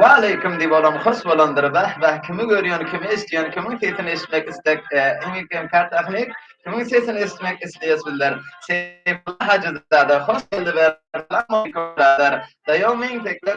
Waleýkim diýip olam hurs bolandyr Bäh bäh kimi görýän kimi eşdýän kimiň sesini eşitmek istek kimiň sesini eşitmek isleýäs bizler Seýfulla Hajyzada hoş geldi Berdi Salam aleýkum Biradar Daýaw meň tekler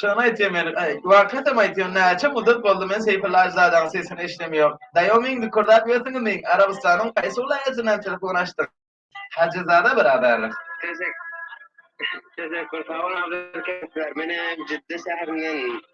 Şony aýtýan men, aý, hakykatym aýtýan, näçe muddat boldy men Seýfulla Aždadaň sesini eşidemýok. Daýaw meň dükürdäp ýörsüňizmi, Arabystanyň haýsy wlaýatyndan telefon açdyň? Hajyzada biraberlik. Teşekkur, sag bol Abdylkerim. Menem Jidda şäherinden.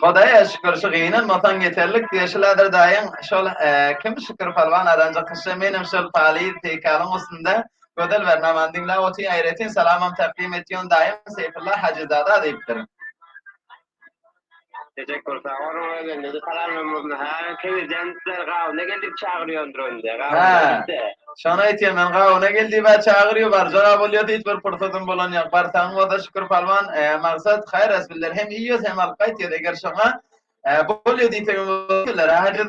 Hodaýa şükür şu gynanmasaň ýeterlik diýe şu ladyr daýyň şol kim şükür palwan aranjak kişi menem şol paly peýkalyň üstünde gözel beren aman diňläp otyryn aýratyn salamam takdim et ýon daýym seýfulla hajyzada diýipdir. Teşekkür sag bolun özünde de salamlarymyzny her kewirden sizler gawuna geldik çagyrýandyr onda gawuna de. Şony aýtýan men gawuna gel diýip çagyrýar barjaga bolýar hiç bir pursatym bolan ýok barsaň bolsa şükür palwan maksat haýyr resmler hem iýýas hem alyp gaýtýas eger şoňa bolýar diýseň hem bolýar.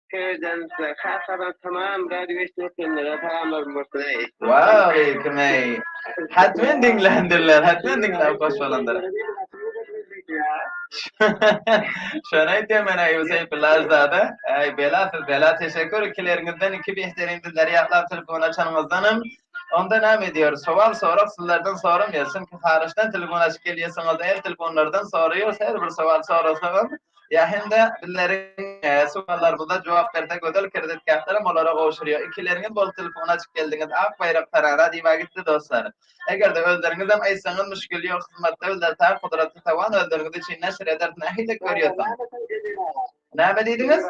Söýüjänisler Kasadan tamam gady geçdi ötenlere salamlarym bolsun eý. Waleýkim eý. Hatmen diňländirler, hatmen diňläp hoş bolandyr. Şony aýtýan men Aýup Seýfullazada. Äý bela siz bela teşekkür ikileriňizden iki behterindi zarýadlap telefon açanyňyzdanam. Onda näme edýär sowal sorag sizlerden soramýar çünki haryçdan telefon açyp gelýärsiňiz el telefonlardan soraýar her bir sowal sorasagam Ýa hem-de bizleriň sowallarymyza jogap berse gözel kreditkartalarym olara gowşurýar. Ikileriňiz bolup telefona açyp geldiňiz, ak baýrak tarara diýiba gitdi dostlar. Eger-de özleriňizem aýtsaňyz müşgil ýok hyzmatda bizler tar kudratly taban özleriňiz üçin neşir ederis nähili görýärsiň? Näme diýdiňiz?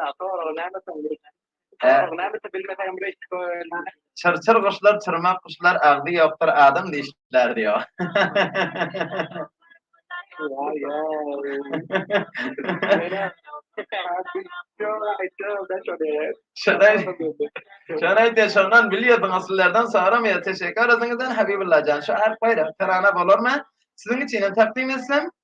Çyrçyr guşlar, çyrmak guşlar, agzy ýokdur adam dişler diýýär. Şony aýtýar, şondan bilýärdiň, asyllardan soramaýar. Teşekkür özüňizden Habibulla jan. Şu Alp Baýrak tarana bolarmy? Siziň üçinem takdim etsem,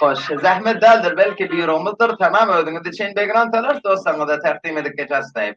Hoş, zähmet däldir, belki býuromyzdyr, tamam özüňiz üçin begran talaş, dostlaryňyza takdim edip geçersiz aýyp.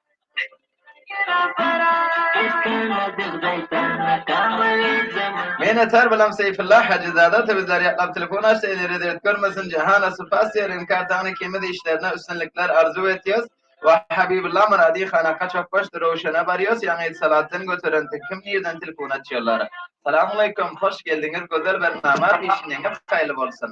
Mena tar balam Seýfulla Hajy zada sebizler ýatlap telefon açdy eli rezet görmesin Jahana Supas diýer in kartaňny kimiz işlerine üstünlikler arzuw etýos we Habibulla Muradi hana kaçak başdy Röwşene barýos ýaňy Salatdan göterentik kim nirden telefon açýarlar Salamaleýkum hoş geldiňiz gözel bir namaz işiňiz haýyrly bolsun.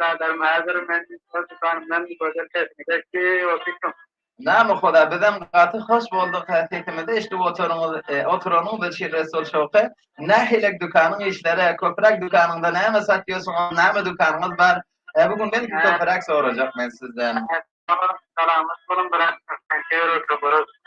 Biraderim häzir men öz dükanymdan gözel sesimi eşdi we syçdym. Name hoda bizem gaty hoş bolduk he sesimizi eşdip oturyňyz oturanyňyz üçin Resul Şowky nähilek dükanyň işleri köpüräk dükanyňda näme satýorsyň ony näme dükanyňyz bar e bu gün belki köpüräk sorajak men sizden. Salam salamat boluň brat käbir wagtlar görüşüp.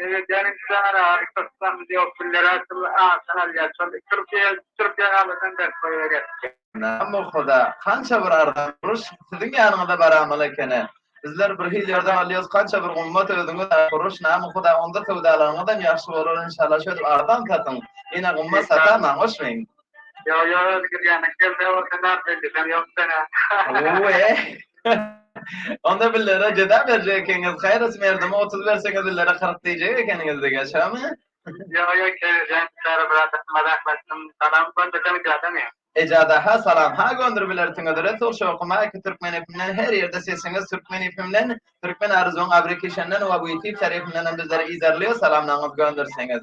Sebedýanyň çyzanara Kyrgyzystan bizi ýok günlere şul aşyk alýar şol Türkiýe Türkiýe galadan berk goýber ýatyşy. Name Huda kança bir arzan kuruş siziň ýanyňyza baramaly ekeni bizler bir hil ýerde galyos kança bir gummat özüňiz aýt kuruş name Huda onda söwdalaryňyzam ýagşy bolar inşallah şödip arzan satyň ýene gymmat satamaň goşmeň. Ýok, ýok, özi girýände geldi, o sen nädip edýäň, ýok sen-ä. Owe. Onda billere jeza berjek ekeniňiz, haýrysy merdimi otuz berseňiz billere kyrk diýjek ekeniňiz diýýä, şäme? Ýok, ýok, keýjek, käre bir adam mazaklaşdym, salam göndersem ejadamy? Ejada-ha salam, ha göndür bilersiňiz, Resul Şowky Maýka Türkmen FM-den her ýerde sesiňiz Türkmen FM-den, Türkmen Arzuwyň Abrikişenden we Witip Şerifendenem bizleri yzarlaýar, salamlaryňyzy gönderseňiz.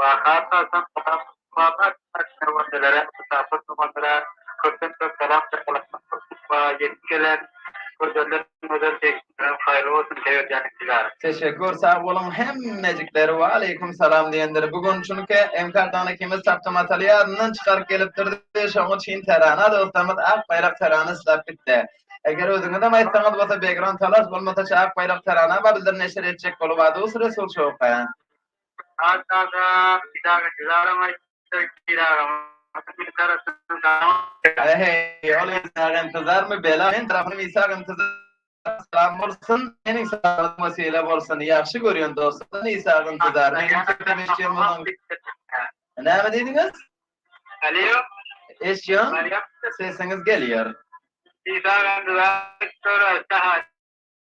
Waka esasan Gazap Mustafa atly çewendelere, musapyr çopanlara köpden-köp salam çakylyk Mustafa ýetip gelen Gözelden gözel degişliňiz haýyrly bolsun Seýer jan Ilkiler. Teşekkür sag boluň hemmejikler. Waleýkum salam diýendir. Bu gün çünki Enkar dana ikimiz tapda mataly ýadyndan çykaryp gelipdirdi. Şoňa çyn terana dostlarymyz Ak baýrak terana islap gitdi. Eger özüňizem aýtsaňyz bolsa Begran Talas bolmasa Ak baýrak terana barydyr neşir etjek bolup Adus Resul Şowka. Saýt aga, pidagä didaram aýtdy, Pir agam meni tarapdan salamlaýar. Heý, ol Ysaga intizarmy bela? Meniň tarapym Ysaga intizara salam bolsun. Seniň salamatlygyňa sylag bolsun. Ýagşy görýän dostlardan Ysaga intizaryna entegem eşidýän bolsaň. Näme diýdiňiz? Alýo. Eşidýän. Sesiňiz gelýär. Ysaga intizara salam.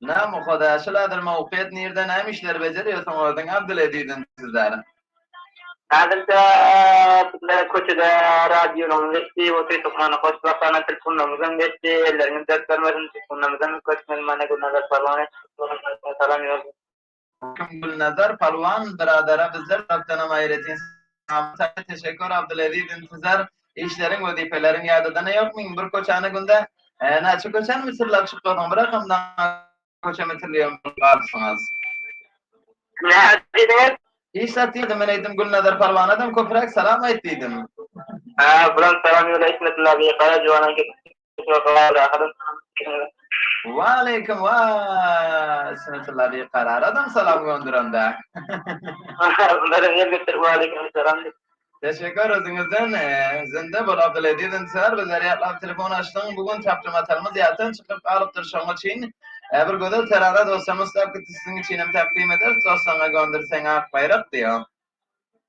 Name Hoda şu lader moped nirde name işler bejerýorsuň özüň Abdyl Eziziň sizlere. Häzirçe sizlere köçede radionyň geçdi we tüýsük many goşup başlanan telpundamyzam geçdi elleriňiz dert görmesin telpundamyzam köp mehmana gülnaza salon etdik salam ýollap. Aýdym Gulnazar Palwan byradara bizler tarapdanam aýratyn salam saýat teşekkür Abdulaziz intizar işleriň wezipeleriň ýadadana ýok meň bir köçäni günde näçe köçäni mitirläp çykladyň bir akamda köçe mitirleýän bolup galypsyňyz. Näme diýdiňiz? Iş zat diýdim men aýdym Gulnazar Palwanadam köpräk salam aýt diýdim. Hä bulam salam ýöle ismetilla bi gara juwanyň Waleýkim wa smetullah diýip garar adam salam gönderende. Waleýkim salam. Teşekkür özüňizden zinde bol Abdulaziz Ensar bizleri ýatlap telefon açdyň bu gün tapjy matalymyz ýatdan çykyp galypdyr şoň üçin bir gözel terara dostlarymyz tapgyt siziň üçinem takdim ederis doslaryňa gönderseň ak baýrak diýo.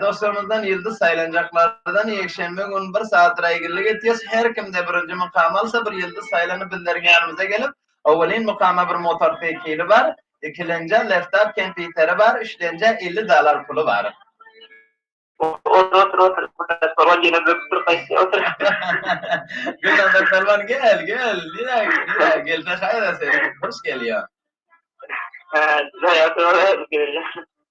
Dostlarymyzdan ýyldyz saýlanjaklardan ýekşenbe gün bir sat raýgyllyk etýäs. Her kimde birinji mukamy alsa bir ýyldyz saýlanyp bizleriň ýanymyza gelip, owelin mukama bir motorsikili bar, ikilenjä laptop kempýuteri bar, üçlenjä elli dollar puly bar. Otur otur otur Gülnazar Pälwan ýene böküp dur gaýtýa otur. Gülnazar Pälwan gel gel nirä nirä gelse haýra sen hoş gelýäň. Hä size ýa size ýa.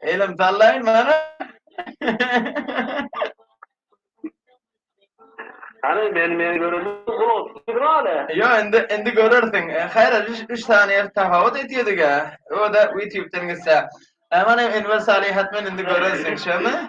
Elim sallaýyn mana. Hany men men göreli gulak dur ale. Yo indi indi görersiň. E, Hayır 3 saniye tahawut etýedik a. O da YouTube'dan gitse. Aman hem Enver Salihat men indi görersiň şemi?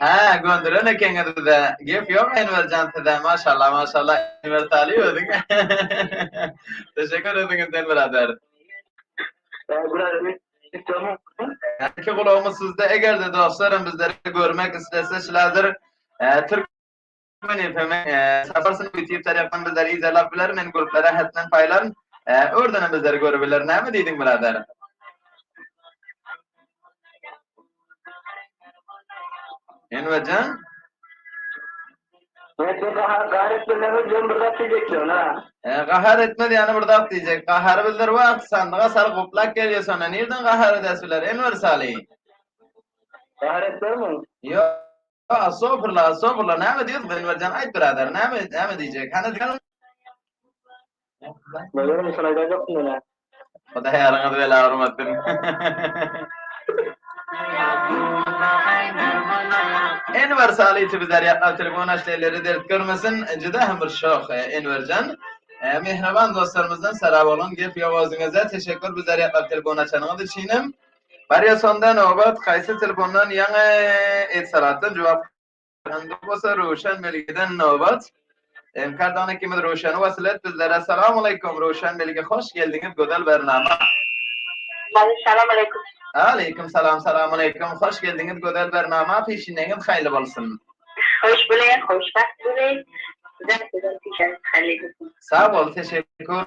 Hä, gönderen ekeňiz bize. Gep ýok Enwer jan size. Maşallah, maşallah Enwer Taly özüň. Teşekkür özüňiz Enwer Ader. Iki gulagymyz sizde egerde dostlarym bizleri görmek islese şiladir. Türk Meniň filmi Sapar Sunuk YouTube tarapyndan bizleri yzarlap biler, men gruplar ählisinen paýlaryn. Ördenem bizleri görübiler. Näme diýdiň birader? Enverjan? Mende gahar gahar etmelerini diýen bir zat diýjekdim ha. E, gahar etme diýeni bir zat diýjek. Gahar bizler wagt sandyga sal guplak gelýär sonra nirden gahar edesiler Enwer Sali? Gahar etmemi? Ýok. Astagfirullah, astagfirullah. Näme diýýäs Enwerjan? Aýt birader, näme, näme diýjek? Hany diýelim. Bölüm insan aýdajakmy mene? Hudaý ýaryňyzy bela urmasyn. Enwer Saliti bizler ýatlap telefon açdy, elleri dert görmesin. Juda hem bir şok e, Enwerjan. E, Mehriban dostlarymyzdan Saraboglan gep ýok özüňize. Teşekkür bizler ýatlap telefon açanyňyz üçin hem. Barýa sonda nobat haýsy telefondan ýaňy Etisalatdan jogap Indi bolsa Röwşen Melgeden nobat. Enkardan ikimiz Röwşeni wasyl et bizlere. Salamaleýkum Röwşen Melge hoş geldiňiz gözel bernama. Many salamaleýkum. Aleýkum salam salamaleýkum hoş geldiňiz gözel bernama pişineňiz haýly bolsun. Hoş bule hoş wagt bule. Sizem sizem pişeňiz haýly bolsun. Sag bol teşekkür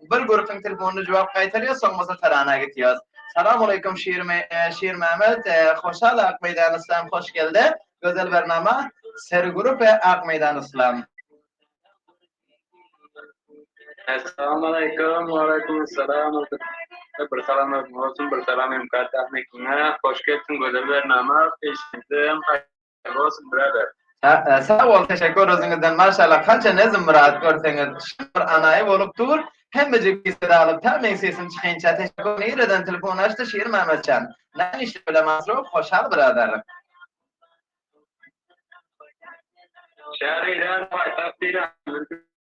Bir görüpsiň telefonyna jogap gaýtarýas, soň bolsa tarana gitýas. Salam aleýkum Şirmämet, Hoşal Akmeýdan Yslam hoş gelde, gözel bernama, Seri grup we Akmeýdan Yslam. Salam aleýkum, aleýkum salam, bir salam özüňe bolsun, bir salam hem Karta Akmeýkiňe, hoş gelipsiň gözel bernama, eşitdim. Rosen brother. Sag bol, teşekkür özüňizden. Maşallah, kança nezm myrat görseňiz, şyh bir anaýy bolup dur. Hemmejik biset alyp, tä meň sesim çykaýynça teşekkür. Nireden telefon açdy Şir Mämmetjan? Näme işle bilen maşgul? Hoşal brother. Şäheriň däli paýtagt diýýän.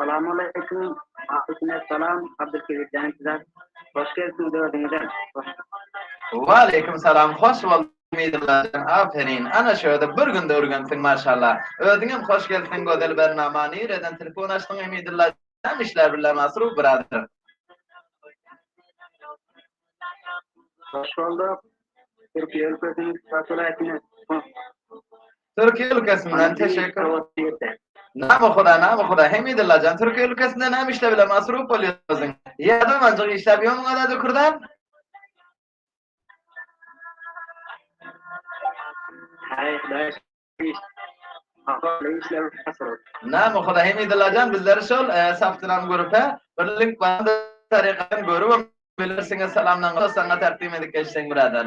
Salamaleýkim. Aýkime salam. Abdulkebir jan size hoş gelipsiňiz özüňize. Waleýkim salam hoş bolduk Umydyllajan aferin ana şöde bir günde ürgensiň maşallah özüňem hoş gelipsiň gözel bernama nireden telefon açdyň Umydylla jan işler birle masruf birader. Hoş bolduk. Türkiýe ülkesiniň Şuşa welaýatyny. Türkiýe ülkesinden teşekkür. Name huda name huda Hemidillajjan Türkiýe ülkesinde näme işle bile masrup bolýarsyň. Ýa domanjyk işläp ýörmüň ada dükürden. Haý hudaý Name huda Hemidillajjan bizleri şol saptyran grupa bir link bar tarykadan görüp bilersiňiz salamdan saňa takdim edip geçseň birader.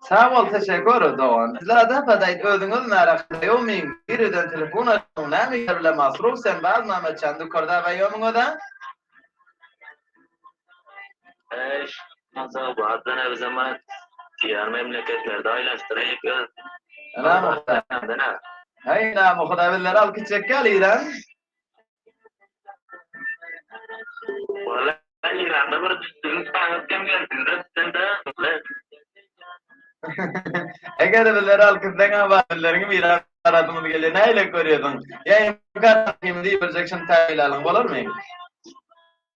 Sag bol teşekur dogan. Dilada apa daýt özüňiz nara xiaomiň biriden telefon açyň näme işler bilen masruf sen baz name çan dukarda gaýomyň özä. Eş Mansur bar dene bize mat diýer memleketlerde aýlaşdyryp ýör. Ynam huda. Haý ynam huda bizleri alkyt çekýär iran. Eger bizleri alkyşlaýan wagtlaryňy bir aradymyz gelýär, nähili görýärsiň? Ýa hem kar takymyny iberjek şyntagylalaň bolarmy?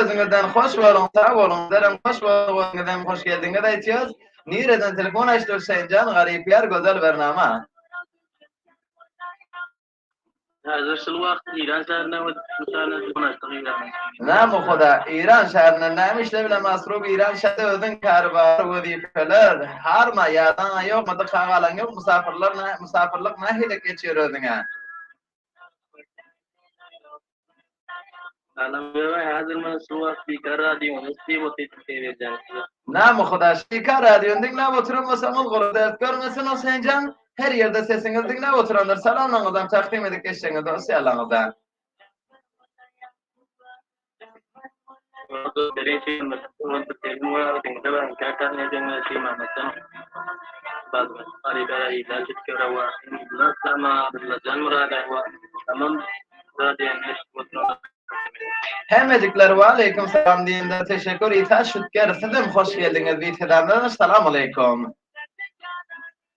Özüňizden hoş boluň, sag boluň. Bizlerem hoş bolduk, özüňizem hoş geldiňiz aýtýas. Nireden telefon açdy Hüseýinjan, garyp ýar gözel bernama. Häzir şul wagt Iran şäherinde we Türkmenistanda telefon açdyk Irana. Name huda, Iran şäherinde name işle bilen Asrub Iran şäherinde özüň kary bar, wezipeler, harma, ýadaňa ýokmy, dyka galaň ýok, musapyrlar, musapyrlyk nahili geçýär özüňe. Salam Göga häzir men şu wagt Bikar radionyň üsti bot etip seýredýän sizi. Name huda şika radiony diňläp oturan bolsaňyz goly dert görmesin Huseýnjan her ýerde sesiňizi diňläp oturandyr salamlaryňyzam takdym edip geçseňiz dostýarlaryňyza. Hemmejiklere waleýkim salam diýenlere teşekkür Isa Şütger sizem hoş geldiňiz Salam Aleykum.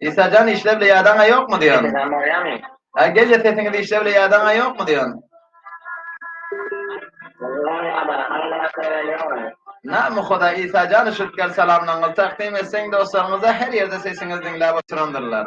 Isajan işle bile ýadaňa ýokmy diýýän. Isajan barýamy? Ha gelýä sesiňiz işle bile ýadaňa ýokmy diýýän. Name hoda Isajan şütker salamlaňyz takdim etseň dostlaryňyza her ýerde sesiňiz diňläp oturandyrlar.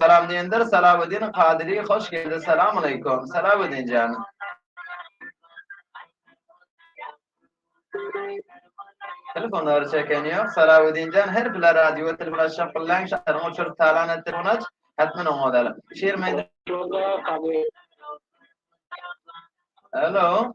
Salam diýendir Salawuddin Kadyri hoş geldi Salamaleýkum Salawuddin jan. Telefonlar çeken ýok. Salawuddinjan her bile radio telefon açyp bilen şahyryň uçuryp talan et telefon aç. Hatman oňa da. Şiir meýdi. Hello.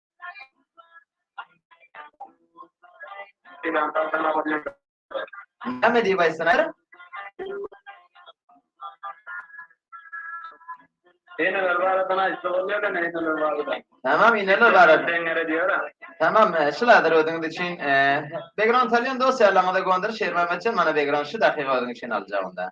Näme diýip aýtsalar? Eneler barada näçe bolýar ene eneler barada? Tamam eneler barada. Deňere diýär. Tamam e, şu lazer özüňiz üçin e, background alýan dosýalaryňyza gondyr Şerman Maçan mana background şu dakyga özüň üçin aljak onda.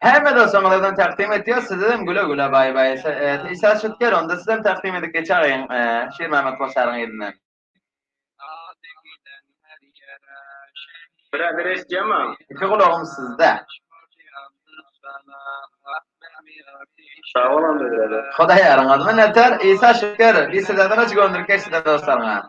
Hemme dostlaryňyzam takdim etýäs sizem güle güle bay bay Isa Şutger onda sizem takdim edip geçäýiň Şirmämmet Koçaryň yzyna. Birazir eşdýämaň. Iki gulagym sizde. Sagbol onda biradar. Hudaý ýaryňyz. Minnetdar Isa Şutger biz sizeden öç göndürip geçdik dostlaryňa.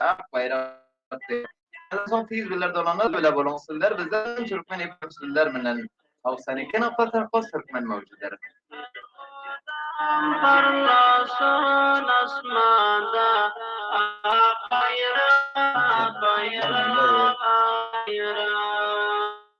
Ak baýrak diýip. Şondan soň tiz biler dolanlar bile boluň sizler bizden türkmen ýypek sizler bilen haw sen iki nokta sakos türkmen möwjüder. Ýoldaşym parlasyn asmanda ak baýrak baýrak baýrak.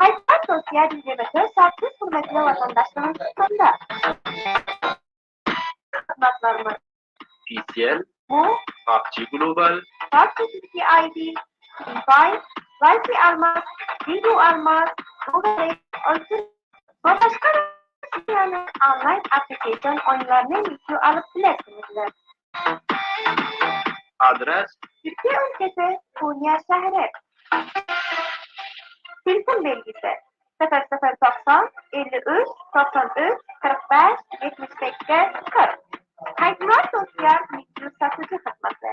Haýsy wagt dost ýa dünýede söz çak siz hürmetli watandaşlaryň hususynda? Hyzmatlarymyz. PCL. Bu. PUBG Global. PUBG TTID. Free Fire. Wi-Fi almak. Video almak. Google Play. Oytun. We başga Russiýanyň onlaýn application oýunlaryny mümkin alyp bilersiňizler. Adres. Türkiýe ülkesi, Konya şäheri. Telefon belgisi, Sıfır sıfır togsan, elli üç, togsan üç, kyrk bäş, ýetmiş sekiz, kyrk. Haýsymyrat Dostýar Mikro satyjy hyzmaty.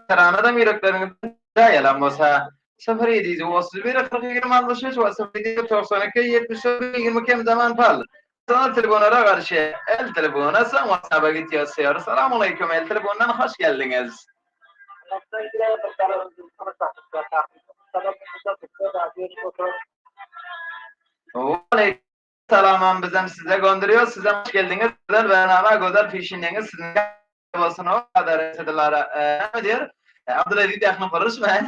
Tanan adam ýürekleriňizden jaý alan bolsa. Syfyr ýedi ýüz otuz bir, kyrk ýigrimi altmyş üç we syfyr ýedi ýüz togsan iki, ýetmiş dört, ýigrimi kem zaman pal. Soňra telewonara garşy, el telewona, soň watsaba git ýazşar. Salamaleýkum, el telewondan hoş geldiňiz. Waleýkim Salamam bizem size gondirios sizem hoş geldiňiz gözel Rnana gözel pişineňiz siziňem ýaly bolsun o kadary sizi Lara näme diýer Abdulaziz ýakyny buryşmaýyn.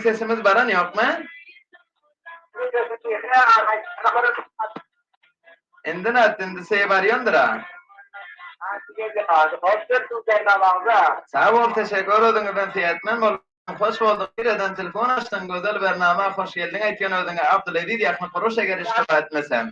Sesiňiz baran ýokmy? Indi nätdi, indi seýe barýandyr-a. Sag bol, teşekkür özüňizden seýetmem bolduň, hoş bolduň, nireden telefon açdyň, gözel bernama, hoş geldiň aýtýan özüňe, Abdulaziz ýakny guruş eger iş dowam etmesem.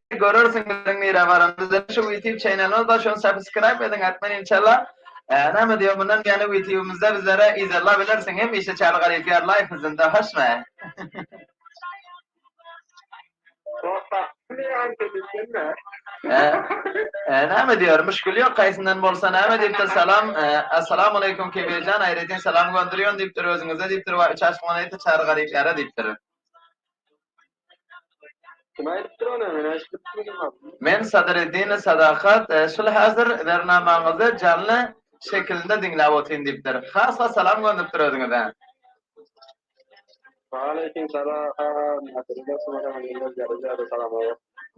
görersiňizler nirä baranda dine şu ýutube çenelimiz bar şony sapiskraýp ediň atman inşalla näme diýýär mundan beýan ýutubymyzda bizlere yzarlap bilersiň hemişe çaly garyp ýar laýk yzynda hoşmy näme diýýär muşkil ýok kaýsyndan bolsa näme diýipdir salam assalamu aleýkum kebirjan aýratyn salam gondurýan diýipdir özüňize diýipdir wa üç aşyk moneta çary garyp ýara diýipdir. Men Sadreddine Sadakat şul häzir bernamaňyzy janly şekilinde diňläp otyryn diýipdir. Has-a salam gönderipdir özüňize.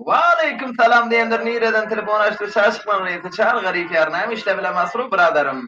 Waleýkim salam diýendir nireden telefon açdy şaşykmaň reýsi çal garyp ýar näme işle bile masruh biradarym.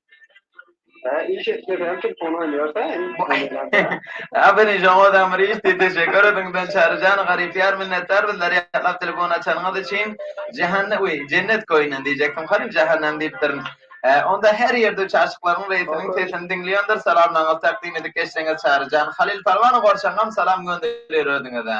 Aferin şoňa adam bir işdi teşekkür ediň ben çaryjan garyp ýar minnetdar bizler ýatlap telefon açanyňyz üçin jahanne we jennet goýundan diýjekdim garyp jahannem diýipdirin onda her ýerde üç aşyklaryň reýsiniň sesini diňleýändir salamlaryňyzy takdim edip geçseňiz çaryjan halyl palwana gorçaňam salam gönderir özüňize.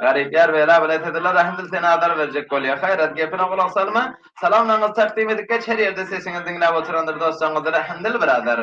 Garyp ýar bela bilen sezilla rahimdil seni azar berjek bolýa. Haýrat, gepine gulak salma. Salamlaryňyzy takdim edip geç her ýerde sesiňizi diňläp oturandyr dostlaryňyzy rahimdil biradar.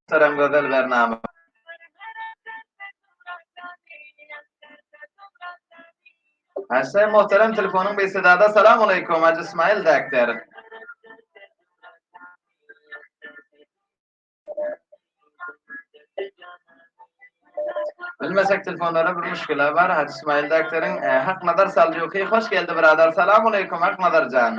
Muhterem gözel Bernama. Häzir muhterem telefonyň bir sedada salam aleykum Hacı İsmail Dakter. Bilmesek telefonlara bir müşküle var Hacı İsmail Dakter'in e, Hak Nazar Salcuki hoş geldi birader salam aleykum Hak Nazar can.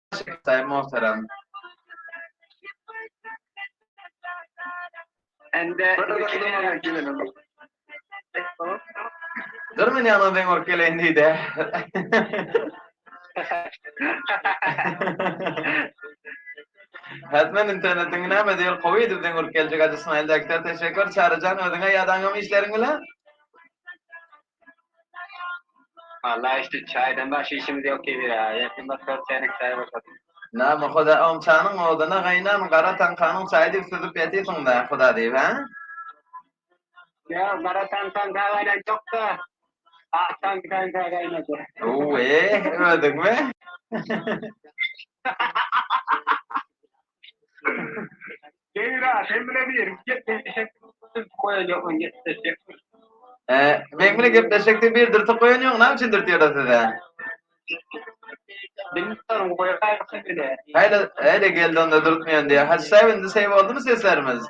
Çekdaý Mohterem. Ende Dur men ýaňa zeň urup geleýin diýdi. Häzmen internetiň näme diýil gowy edip zeň urup geljek Hajy Smile Dekter teşekkür Çaryjan özüňe ýadaňam işleriň bilen. Name hoda oň çanyň oduna gaýnan gara taňkanyň çaý diýip süzüp ýatysyňda hoda diýip hä. Ýok gara taňkan çaý gaýnatjokda ak taňkan çaý gaýnadýar. Uuu eeh özüňmi. Beýra, sen bilen bir gepleşsek, sen goýa ýokun gepleşsek. E, men bilen gepleşsek diýip bir dürtüp goýan ýok, näme üçin dürtýärler size? Bilmän goýa gaýypsy bile. Haýla, haýla geldi onda dürtmeýän diýýär. Hajy Säbit, indi seý boldumy seslerimiz?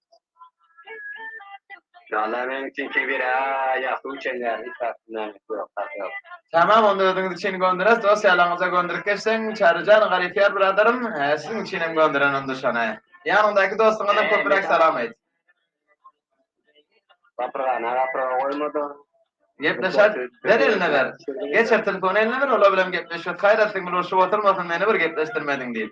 Tamam onda özüňiz üçin gönderiňiz dos ýalaňyza gönderip geçseň Çaryjan garypyar biradarym siziň üçinem gönderen onda şony ýanyňdaky dostuňazam köpüräk salam aýt. Gapyrgana gapyrga goýmadyň. Gepleşer ber eline ber. Geçir telefony eline ber ola bilen gepleşiş. Haýrat siňňil urşup oturmasyn meni bir gepleşdirmediň diýip.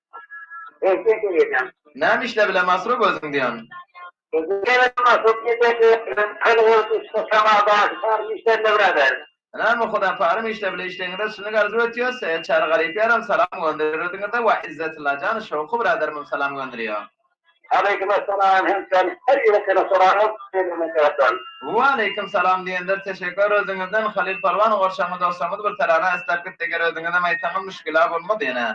Eşek eýýäm. Näme işläp bilen Masruf özüň diýýän. Beýle Masruf gijesi bilen alyp ol ussa Samada parim işlände birader. Näme Hudaý parim işläp bilen işleýiňizde şuny arzuw etýäs Seýed Çary Garyp ýaram salam gönderer özüňize we Izzetylla jan Şowky birader mum salam gönderýär. Aleýkum essalam hemşerim her ýyl seni soraňyz beýle meseleden. Waleýkum salam diýendir teşekkür özüňizden Halyl Pälwan gorşagymy dostlarymyz bir tarara esläp gitdi eger özüňizem aýtsaňyz müşgila bolmaz ýene.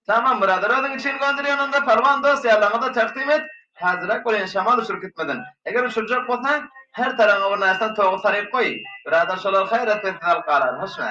Tamam brother özüň üçin gönderýän onda Palwan dos ýalaňyza takdim et Hazyrak bolyň şamal uçuryp gitmesin Eger uçurjak bolsaň her taraňa bir närse togy saryp goý Brother şolar haýratpesiz alyp galar hoşma.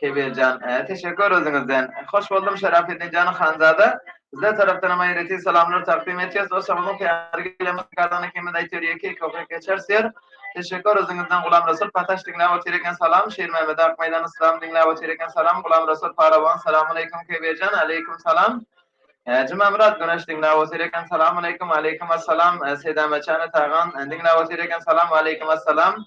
Kebirjan teşekkür özüňizden. Hoş boldum Şerafeddin jan Hanzada. Sizler tarapdanam aýratyn salamlar takdym etýäs. Dostlarymyzyň täze gelen muzykantyny ikimiz aýtýar ýeke iki okyp geçeris diýer. Teşekkür özüňizden Gulam Resul Pataş diňläp otyr eken salam. Şirmämede Akmeýdan Yslam diňläp otyr eken salam. Gulam Resul Parawan Salamaleýkum Kebirjan Aleýkum salam. Jumamyrat Güneş diňläp otyr eken Salamaleýkum Aleýkum assalam. Sedäme Çany Tagan diňläp otyr eken Salam Aleýkum assalam.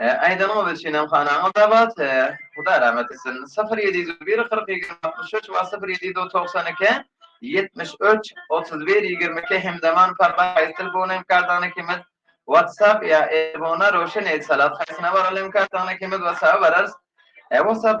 He aýdanyňa biz şenem hanaňa gabat he Hudaý rahmet etsin syfyr ýedi ýüz bir kyrk iki altmyş üç we syfyr ýedi ýüz togsan iki ýetmiş üç otuz bir ýigrimi iki Hemzaman Parbat haýsy telefona hem kartany ikimiz Whatsapp ýa Airphone-a Röwşen Eýtisalat haýsyna baraly hem kartany ikimiz Whatsapp-a bararys He Whatsapp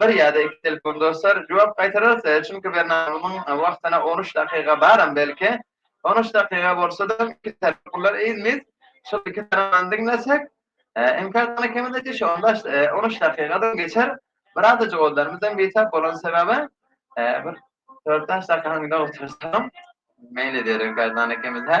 Bir ýa-da iki telefon dostlar jogap gaýtararysy çünki Bernabumyň wagtyna on üç dakyga baram belki. On üç dakyga bolsada iki tarap pullar eýzmiz şol iki tarapdan diňlesek mkadany kemidejik şu on bäş on üç dakygadam geçer bir aza jogazlarymyzam bitap bolan sebäbi bir dört bäş dakyga öňde otursam meýil edýär mkadany ikimiz hä.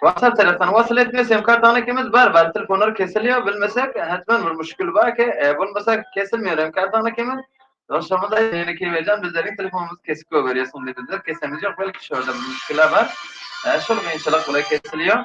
Whatsapp tarapdan wasyl et diýýär, sim kartaňy ikimiz bar, bar telefonlar kesilýär, bilmesek hetmen bir muşkil bar ki, bolmasa kesilmeýär hem kartaňy ikimiz. Dostlarymyz aýt ýöne Keýwerjan bizleriň telefonymyz kesik goýberýär, soň diýdiler kesemiz ýok, belki şurada bir muşkila bar. Şol kynçylyk bilen kesilýär.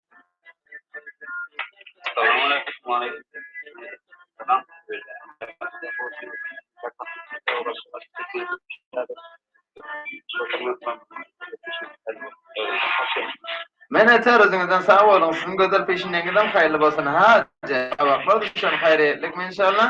Mene ter özüňizden sag boluň siziň gözel peşiňeňizem haýyrly bolsun ha jabaplar düşen haýryýetlikmi inşallah.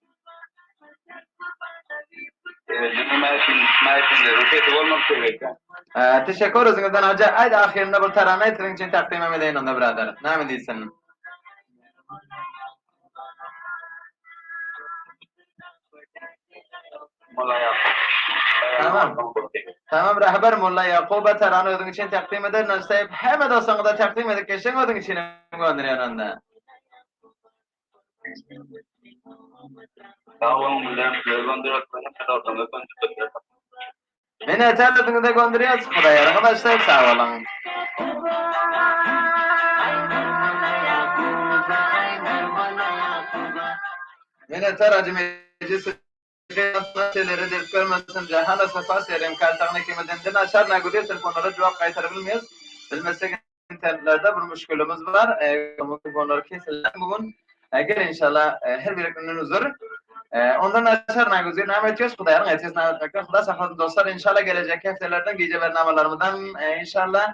Teşekkür özüňizden Hajy. Aýt ahyrynda bir tarana aýt siziň üçin takdymym edeýin onda biradar. Näme diýsin? Tamam. Tamam Rahbar Molla Ýakuba tarany özüň üçin takdym eder. Naştaýyp hemme dostuňyza takdym edip geçseň özüň üçin hem gönderýän onda. Meni eterlediňize göndürýäs, Hudaý arkadaşlar, sag boluň. Men eter Ajy Mejit Prezident muny Selere dert görmesin, Jahana sapa seren kaltagyny kiminden de naçar nagul etsek onlara jogap gaýtaryp bilmeris. Bilmesek internetlerde bir müşgilimiz bar. Onlary keseler bu gün. Gel inşallah her birikinden üzür. Ondan naçar nagul etsek name etýäs Hudaýyň etsesi name etmekden. Huda saklasyn dostlar inşallah gelejekki hepdelerden gije bernamalarymyzdan inşallah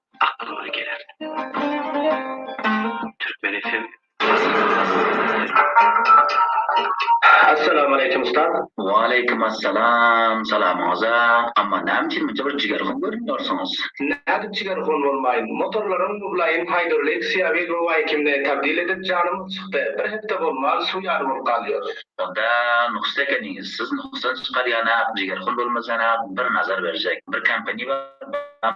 aklyňa bir geler. Türkmen FM Assalamualeýkum ustaz. Waleýkim assalam, salamyňyza. Amma näme üçin munça bir jigerhon görünýärsiňiz? Nädip jigerhon bolmaýyn. Motorlaryň mublaýyn haýdur Lexia we Luwaýkimde tabdil edip janymyz çykdy. Bir hepde bolman suw ýaly bolup galýar. Onda nuksda ekeniňiz. Siz nuksdan çykarýana, jigerhon bolmasana bir nazar berjek. Bir kompaniýa bar,